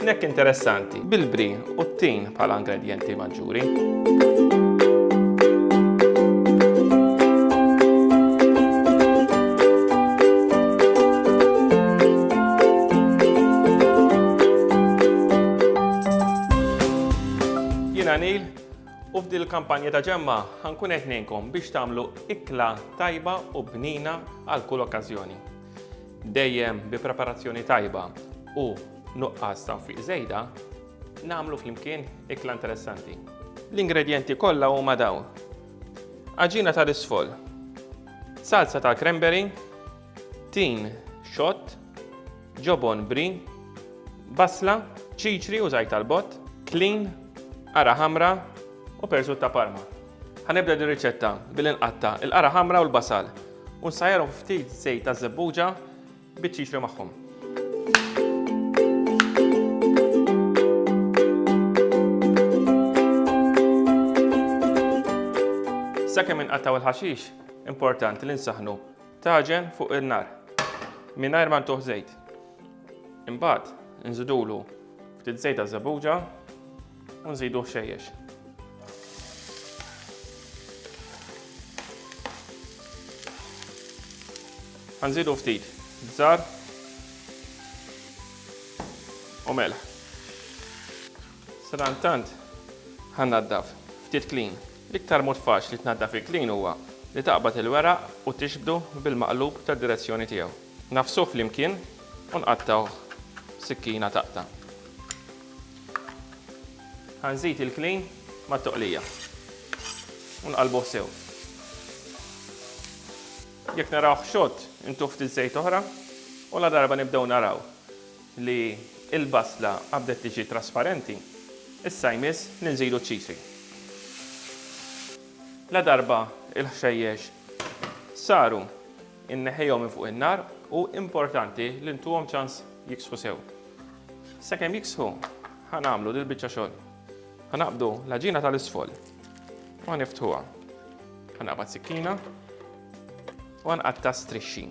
Snack interessanti bil-bri u t-tin bħala ingredienti maġġuri. Jina Nil, U f'dil kampanja ta' ġemma ħankun qed ngħinkom biex tagħmlu ikla tajba u bnina għal kull okkażjoni. Dejjem bi preparazzjoni tajba u nuqqas ta' fiq żejda, nagħmlu flimkien ikla interessanti. L-ingredjenti kollha huma dawn. Aġina tal-isfol, salsa tal-cranberry, tin xott, ġobon bri, basla, ċiċri u żajt tal-bott, klin, qara ħamra u persut ta' parma. Ħanibda din riċetta billi nqatta' il-qara ħamra u l-basal U nsajjarhom ftit żejt ta' żebbuġa biex jixri magħhom. Sakemm inqattaw il-ħaxix, importanti li nsaħnu taġen fuq in-nar mingħajr ma ntuħ żejt. Imbagħad nżidulu ftit żejt ta' żebbuġa u nżidu ħxejjex. Għanżidu ftit bżar u melħ. Sadantant ħannaddaf ftit klin. L-iktar mod faċli li tnaddaf il-klin huwa li taqbad il-weraq u tixbdu bil-maqlub tad-direzzjoni tiegħu. Nafsuh flimkien u nqattgħuh sikkina taqta'. Ħa nżid il-klin mat-toqlija u nqallbuh sew. Jekk narawh xott, intuh ftit żejt oħra u ladarba nibdew naraw li l-basla qabdet tiġi trasparenti, issa jmiss li nżidu ċ-ċiżi. Ladarba l-ħxejjex saru, inneħħihom minn fuq in-nar u importanti li ntuhom ċans jiksħu sew. Sakemm jiksħu, ħa nagħmlu dil biċċa xogħol. Ħa naqbdu l-ħaġina tal-isfol. U niftħuha. Ħa naqbad sikkina u nqatta strixxi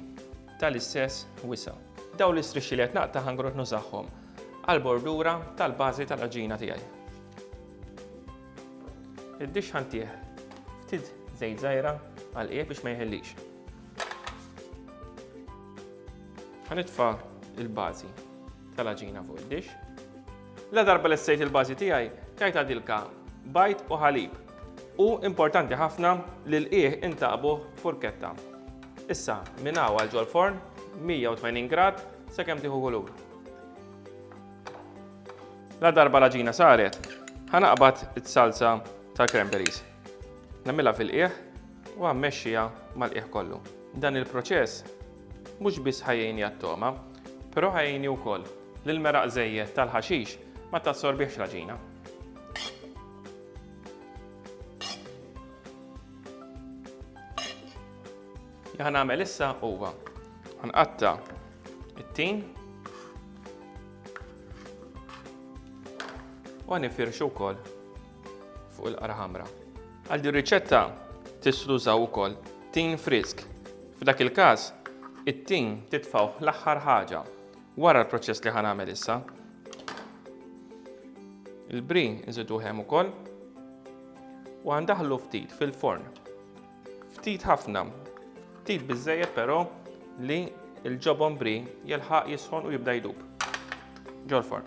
tal-istess wisa. Daw l-istrixxi li qed naqta' ħangrot nużaħħom għal-bordura tal-bażi tal-ħaġina tiegħi. Id-dix ħantih ftit żejt żgħira għal biex ma jħellix. Ħanitfa il-bażi tal-aġina fuq id-dix. La darba li sejt il-bażi tiegħi, tajta dilka bajt u ħalib. U importanti ħafna li l-qieħ intaqbuh furketta. Issa, minn hawn għal ġol-forn, 180 grad, sakemm tieħu kulur. La darba l-aġina saret, ħanaqbad it-salsa tal-cranberries. Nagħmilha fil-qiegħ u mmexxiha mal-qiegħ kollu. Dan il-proċess mhux biss ħajjini għat-togħma, però ħajjini wkoll li l-meraq żejjed tal-ħaxix ma tassorbihx l-għaġina. Li ħan għamel issa huwa ħanqatta it-tin u ħanifirxu wkoll fuq il-qara ħamra. Għal din riċetta tistgħu tużaw ukoll tin frisk. F'dak il-każ, it-tin titfgħu l-aħħar ħaġa wara l-proċess li ħan għamel issa. Il-bri nżidu hemm ukoll u għandaħlu ftit fil-forn. Ftit ħafna, ftit biżejjed però li l-ġobon bri jilħaq jisħon u jibda jdub. Ġol-forn.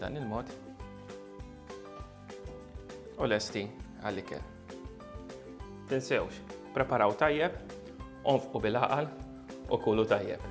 Dan il-mod. U lesti għall-ikel. Tinsewx, preparaw tajjeb, onfqu bil-aqal u kulu tajjeb.